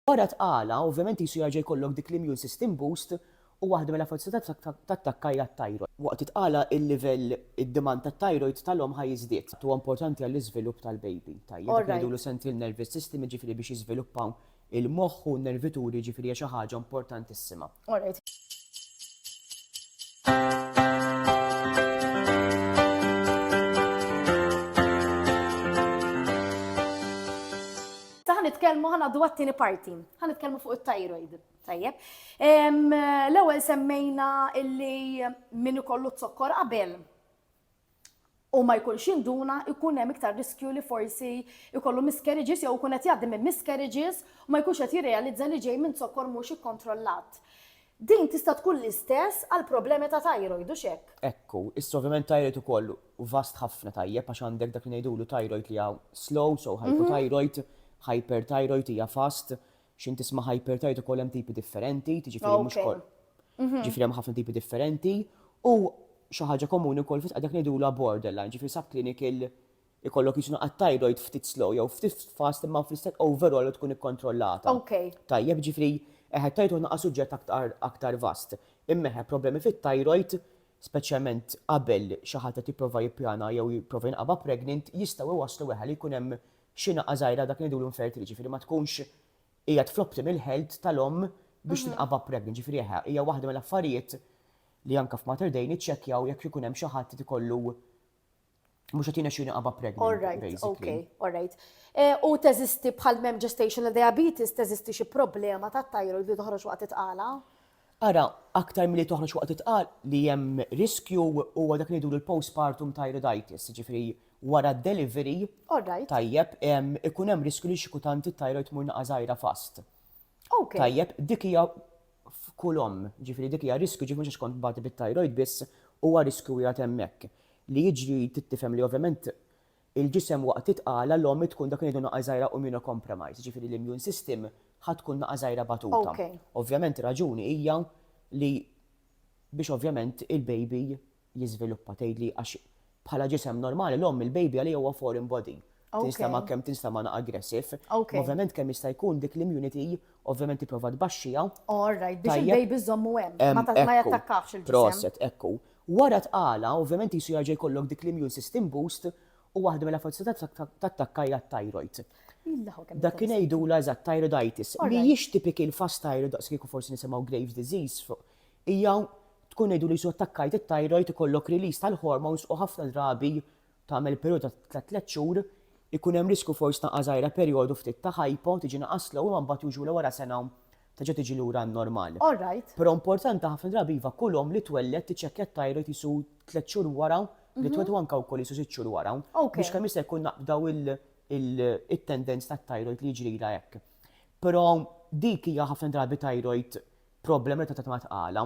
Wara tqala, ovvjament qisu jerġa' jkollok dik l-immune system boost u waħda mill-affarijiet li tista' tattakka hija t-thyroid. Waqt it-tqala il-livell, id-demand tat-thyroid tal-omm ħa jiżdied. Huwa importanti għall-iżvilupp tal-baby. Tajjeb, dak li ngħidulu central nervous system jiġifieri biex jiżviluppaw il-moħħ u n-nervituri jiġifieri hija xi ħaġa importantissima. All right. Taħ nitkellmu ħana dwar tieni parti. Ħan nitkellmu fuq it-thyroid. Tajjeb. L-ewwel semmejna illi min ikollu t-zokkor qabel u ma jkunx induna jkun hemm iktar riskju li forsi jkollu miscarriages jew ikun qed jgħaddi minn miscarriages u ma jkunx qed jirrealizza li ġej minn zokkor mhux ikkontrollat. Din tista' tkun l-istess għal problemi ta' thyroid, hux hekk? Hekk hu. Issa ovvjament thyroid ukoll hu vast ħafna tajjeb għax għandek dak li ngħidulu thyroid li hija slow, so hypothyroid, hyperthyroid hija fast, X'int tisma' hyperthyroid ukoll hemm tipi differenti, tiġifieri mhux koll. Ġifieri hemm ħafna tipi differenti u xi ħaġa komuni wkoll fis dak ngħidulha borderline, ġifieri subclinical ikollok jiġu naqgħad thyroid ftit slow jew ftit fast imma fl-istess overall tkun ikkontrollata. Tajjeb, ġifieri eħe t-thyroid naqa' suġġett aktar aktar vast. Imma eħe problemi fit-thyroid, speċjalment qabel xi ħadd qed jipprova jippjana jew jipprova jinqaba' pregnant jistgħu jwasslu eħe li jkun hemm xi naqqa żgħira dak li ngħidulu infertili, jiġifieri ma tkunx qiegħed fl-optimal health tal-omm biex tinqabad pregnant, jiġifieri eħe, hija waħda mill-affarijiet li anke f'Mater Dei niċċekkjaw jekk ikun hemm xi ħadd li jkollu mhux qed jirnexxilu jinqabad pregnant basically. All right, okay, all right. U teżisti bħal m'hemm gestational diabetes teżisti xi problema tat-thyroid li toħroġ waqt it-tqala? Ara, aktar milli toħroġ waqt it-tqal, li hemm riskju, huwa dak li ngħidulu l-postpartum thyroiditis, jiġifieri wara d-delivery, tajjeb, ikun hemm riskju li xi kutant it-thyroid tmur naqa' żgħira fast. Tajjeb, dik hija f'kull omm, jiġifieri dik hija riskju, jiġifieri mhux għax kont tbati bit-thyroid biss, huwa riskju qiegħed hemmhekk. Li jiġri trid tifhem li ovvjament Il-ġisem waqt li tqala l-omm hi tkun dak li ngħidu naqa' żgħira immunocompromised, jiġifieri l-immune system ħa tkun naqa' żgħira batuta. Ovvjament ir-raġuni hija li biex ovvjament il-baby jiżviluppa tgħidli għax bħala ġisem normali l-omm il-baby għaliha huwa foreign body. Tinstema' kemm tinstema' naqa' aggressive. Imma ovvjament kemm jista' jkun dik l-immunity ovvjament tipprova tbaxxiha. All right, biex il-baby żżommu hemm, ma jattakkahx il-ġisem. Proset, ekku. Wara tqala, ovvjament qisu jerġa' jkollok dik l-immune system boost u waħda mill-affezzjonijiet tat-takka hija t-tajrojd. Dak ingħidulha eżatt tajroditis. Mhijiex typical fast thyroid daqskieku forsi nisimgħu Graves' disease fuq. Hija tkun ngħidu li qisu attakkajt it-tajrojd ikollok release tal-hormones u ħafna drabi tagħmel perjodu ta' tliet xhur, ikun hemm riskju forsi ta' għażajra perjodu ftit ta' hypo, tiġi inqas slow imma mbagħad usually wara sena terġa' tiġi lura n-normal. All right. Però importanti ħafna drabi iva kull omm li twelled tiċċekkja t-thyroid qisu tliet xhur wara li twed u anke wkoll qisu sitt xhur wara biex kemm jista' jkun naqbdaw it-tendenz tat-thyroid li jiġrilha hekk. Però dik hija ħafna drabi thyroid problem relatata ma' tqala.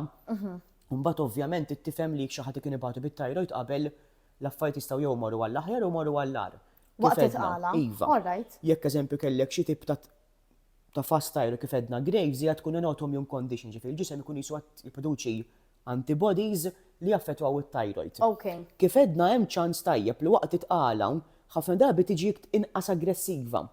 Mbagħad ovvjament tifhem li jekk xi ħadd li kien ibatu bit-thyroid qabel L-affarijiet jistgħu jew imorru għall-aħjar jew imorru għall-agħar. Waqt it-tqala. Iva. All right. Jekk eżempju kellek xi tip ta' ta' fast tire kif għedna Graves hija tkun in autoimmune condition, ġifieri l-ġisem ikun qisu qed jipproduċi antibodies li jaffettwaw it-thyroid. Okay. Kif għedna hemm ċans tajjeb li waqt it-tqala ħafna drabi tiġi inqas aggressiva.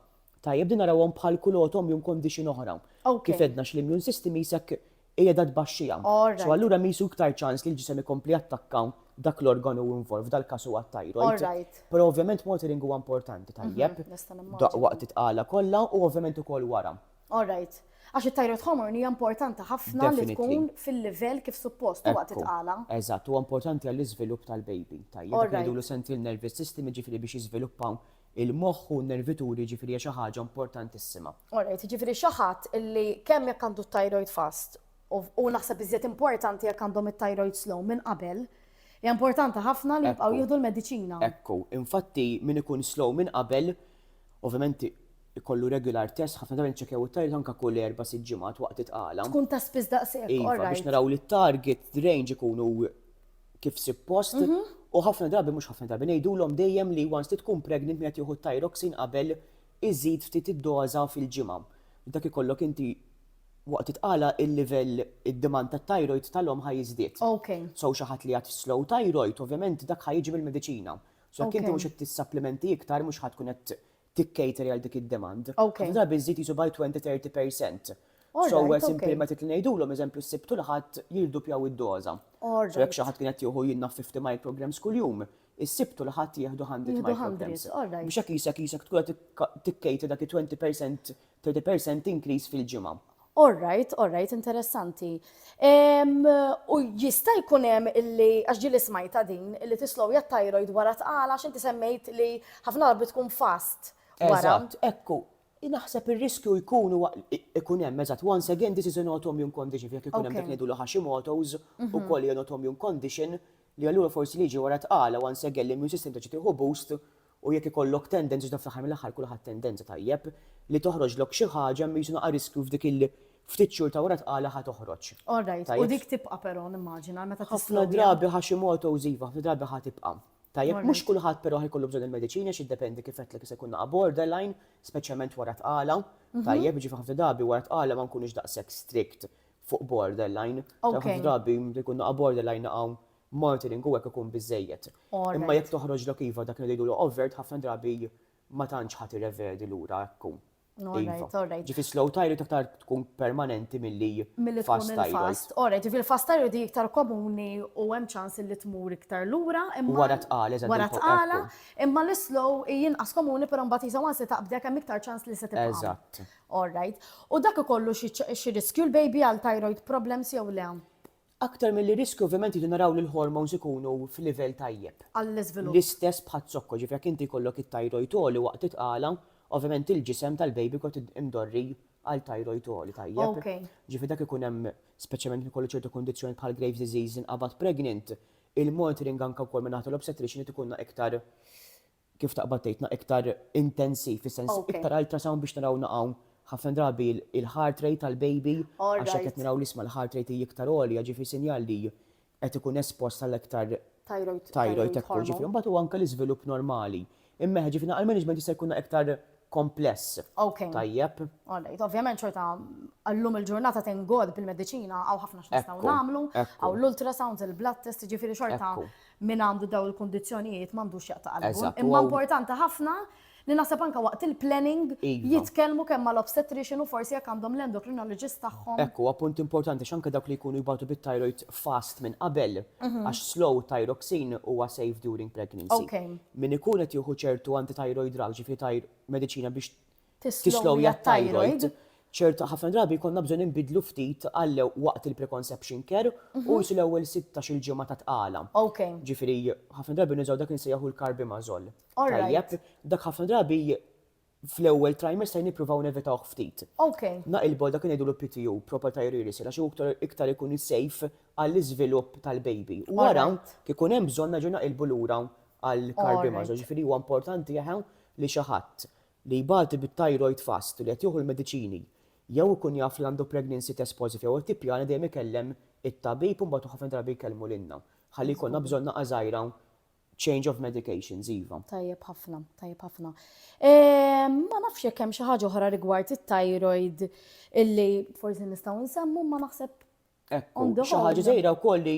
Tajjeb din narawhom bħal kull autoimmune condition oħra. Okay. Kif għedna x'l-immune system qisek qiegħda tbaxxiha. So allura hemm qisu iktar ċans li l-ġisem ikompli jattakka dak l-organu involved, dal-każ huwa t-thyroid. Però ovvjament monitoring huwa importanti, tajjeb, waqt it-tqala kollha u ovvjament ukoll wara. Alright. Għax it-thyroid hormone hija importanti ħafna li tkun fil-livell kif suppost u waqt it-tqala. Eżatt, huwa importanti għall-iżvilupp tal-baby, tajjeb, dak li ngħidulu central nervous system, jiġifieri biex jiżviluppa Il-moħħ u n-nervituri jiġifieri hija xi ħaġa importantissima. Alright, jiġifieri xi ħadd illi kemm jekk għandu t-thyroid fast u naħseb iżjed importanti jekk għandhom it-thyroid slow minn qabel, hija importanti ħafna li jibqgħu jieħdu l-mediċina. Ekku, infatti min ikun slow minn qabel, ovvjament ikollu regular test, ħafna drabi niċċekkjaw it-thyroid anke kull erba' sitt ġimgħat waqt it-tqala. Tkun ta' spiss daqshekk, alright. Iva, biex naraw li t-target range ikunu kif suppost, mhm. u ħafna drabi mhux ħafna drabi ngħidulhom dejjem li once li tkun pregnant meta jieħu tyroxin qabel iżid ftit id-doża fil-ġimgħa. Dak ikollok inti waqt itqala il-livell id-demand ta' thyroid tal-om ħaj jiżdied. Okay. So xi ħadd li għad slow thyroid, ovvjament dak ħaj jiġi mill-mediċina. So jekk inti mhux qed tissapplimenti iktar mhux ħadd tkun qed tikkejteri għal dik id-demand, ħafna drabi żżid qisu by twenty, thirty per cent. So where simple method li ngħidulhom, eżempju s-Sibt u l-Ħadd jirdupjaw id-doża. So jekk xi ħadd kien qed jieħu jinnaf fifty micrograms kuljum, is-Sibt u l-Ħadd jieħdu hundred micrograms. Biex hekk qisek qisek tkun qed tikkejter dak it-twenty per cent Thirty percent increase fil-ġimgħa. All right, all right, interessanti. Em, u jista' jkun hemm illi għax ġieli smajta din illi tislowja t-thyroid wara tqal għax inti semmejt li ħafna drabi tkun fast wara. Eżatt, ekku. Naħseb ir-riskju jkun huwa ikun hemm eżatt. Once again, this is an autoimmune condition, jekk ikun hemm dak li ngħidulu Hashimoto's, ukoll hija an autoimmune condition, li allura forsi li jiġi wara tqala, once again, l-immune system terġa' tieħu boost U jekk ikollok tendenza, iżda fl-aħħar mill-aħħar kulħadd tendenza, tajjeb, li toħroġlok xi ħaġa mhix naqa' riskju f'dik il ftit xhur ta' wara tqala ħa toħroġ. All right, u dik tibqa' però nimmaġina meta tislowja. Ħafna drabi Hashimoto's iva, ħafna drabi ħa tibqa'. Tajjeb, mhux kulħadd però ħa jkollu bżonn il-mediċini għax jiddependi kif għedtlek jista' jkun naqa' borderline, speċjalment wara tqala, tajjeb, jiġifieri ħafna drabi wara tqala ma nkunux daqshekk strict fuq borderline. Ħafna drabi jkun naqa' borderline naqa' Martining u hekk ikun biżżejjed. Imma jekk toħroġlok iva dak li ngħidulu overt ħafna drabi ma tantx ħadd irrevedi lura hekk hu. Iva. Ġifi slow thyroid aktar tkun permanenti milli fast thyroid. Milli tkun il-fast. Alright, ġifi l-fast thyroid hi iktar komuni u hemm ċans illi tmur iktar lura imma. Wara tqala, eżatt. Wara tqala, imma l-islow hi inqas komuni però mbagħad qisha once li taqbdi hekk hemm iktar ċans li se tibqa'. Eżatt. Alright. U dak ikollu xi riskju l-baby għal thyroid problems jew le? Aktar milli riskju ovvjament irridu naraw li l-hormones ikunu f'livell tajjeb. Għall-iżvilupp. L-istess bħaz-zokko, jiġifieri jekk inti jkollok it-tajrojd għoli waqt it-tqala, ovvjament il-ġisem tal-baby kont imdorri għal tajrojd għoli, tajjeb? Ok. Ġifieri dak ikun hemm, speċjalment ikollu ċertu kundizzjoni bħal Graves' disease inqabad pregnant, il-monitoring anke wkoll min-naħa tal-obstetrician irid ikunna iktar kif taqbad tgħidna iktar intensiv fis-sens iktar ultrasound biex naraw na hawn ħafna drabi il-heart rate tal-baby għax hekk qed naraw l-isma l-heart rate hi iktar għolja ġifieri sinjal li qed ikun espost għal iktar thyroid hekk hu ġifieri mbagħad hu anke l-iżvilupp normali. Imma ġifieri na għall-management jista' jkun na iktar kompless. Ok. Tajjeb. All right. Ovvjament xorta għallum il-ġurnata thank God bil-mediċina hawn ħafna x'nistgħu nagħmlu, hawn l-ultrasounds, il-blood test, jiġifieri xorta min għandu dawn il-kundizzjonijiet m'għandux jaqta' qalbu. Imma importanti ħafna li naħseb anke waqt il-planning iva. jitkellmu kemm mal-obstetrician u forsi jekk għandhom l-endocrinologist tagħhom. Hekk huwa punt importanti għax anke dawk li jkunu jbatu bit-thyroid fast minn qabel mhm. għax slow thyroxine huwa safe during pregnancy. Min ikun qed jieħu ċertu anti-thyroid drug, ġifieri thyr, mediċina biex tislowja t-thyroid, ċert, ħafna drabi jkollna bżonn inbiddlu ftit għal waqt il-preconception care u qisu l-ewwel sittax-il ġimgħa ta' tqala. Ok. Ġifieri ħafna drabi nużaw dak li nsejjaħu l-carbimazole. All right. Tajjeb, dak ħafna drabi fl-ewwel trimester nippruvaw nevitawh ftit. Naqilbu għal dak li ngħidulu PTU, proper time rearisal, għax hu iktar ikun safe għall-iżvilupp tal-baby. U wara, jekk ikun hemm bżonn nerġgħu naqilbu lura għal carbimazo. Ġifieri huwa importanti eħe li xi ħadd li jbati bit-thyroid fast u li qed jieħu l-mediċini jew ikun jaf li għandu pregnancy test positive jew qed tippjana dejjem ikellem it-tabib u mbagħad ħafna drabi jkellmu lilna. Ħalli jkollna bżonn naqgħa żgħira Change of medications, iva. Tajjeb ħafna, tajjeb ħafna. Ehm, ma nafx jekk hemm xi ħaġa oħra rigward it-thyroid illi forsi nistgħu nsemmu ma naħseb. Ekku, xi ħaġa żejra wkoll li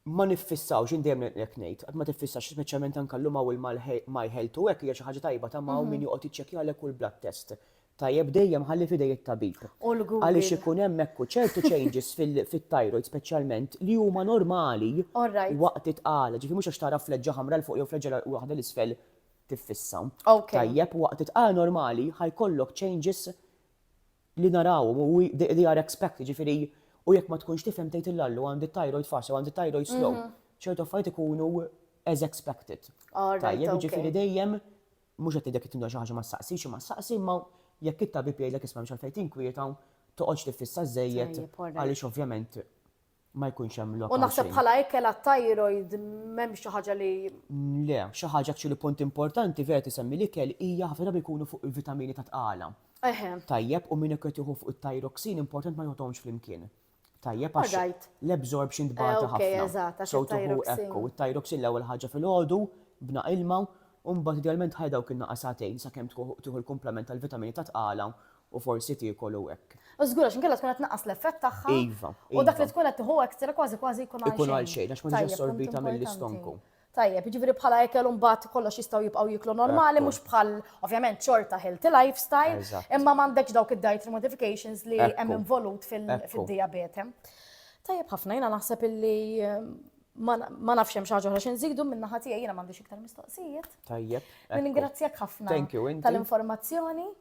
ma niffissawx indejjem jekk ngħid, qatt ma tiffissax speċjalment anke llum hawn il-My Health u hekk hija xi ħaġa tajba ta' ma' min mhm. joqgħod jiċċekkjalek kull blood test tajjeb dejjem ħalli f'idej it-tabib. U l-Google. Għaliex ikun hemm hekk u ċertu changes fit-thyroid speċjalment li huma normali Alright. waqt it-tqala, ġifieri mhux għax tara fleġġa ħamra 'l fuq jew fleġġa 'l waħda 'l isfel tiffissa. Ok. Tajjeb, waqt it-tqala normali ħa jkollok changes li narawhom u wi- they they are expected, ġifieri u jekk ma tkunx tifhem tgħid lil Allu għandi t-thyroid fast jew għandi t-thyroid slow. Ċertu affarijiet ikunu as expected. Alright, Tajjeb, ok. ġifieri dejjem Mhux qed ngħidlek li timla xi ħaġa ma ssaqsix, imma ssaqsi, imma jekk it-tabib jgħidlek isma' m'hemmx għalfejn tinkwieta u toqgħodx tiffissa żżejjed għaliex ovvjament ma jkunx hemm lok għal xejn. U naħseb bħala ikel għat-thyroid m'hemmx xi ħaġa li. Le, xi ħaġa actually punt importanti vera tisemmi l-ikel hija ħafna drabi jkunu fuq il-vitamini ta' tqala. Eħe. Tajjeb, u min qed jieħu fuq it-thyroxine importanti ma joħodhomx flimkien. Tajjeb għax l-absorption tbata ħafna. So tieħu hekk u t-Thyroxin l-ewwel ħaġa filgħodu b'naq ilma u mbagħad idealment ħalli dawk in-naqas sagħtejn sakemm tieħu l-kumplament tal-vitamini ta' tqala u forsi tiekol u hekk. Żgur għax inkella tkun qed tnaqqas l-effett tagħha u dak li tkun qed tieħu extra kważi kważi jkun għal xejn. Ikun għal xejn għax ma ġietx assorbita mill-istonku. Tajjeb, jiġifieri bħala ekel mbagħad kollox jistgħu jibqgħu jieklu normali mhux bħal ovvjament xorta healthy lifestyle, imma m'għandekx dawk id-dietary modifications li hemm involut fid-dijabete. Tajjeb ħafna, jiena naħseb illi ma nafx hemm xi ħaġa oħra xi nżidu minn naħa tiegħi jiena m'għandix iktar mistoqsijiet. Tajjeb. Ningrazzjak ħafna tal-informazzjoni.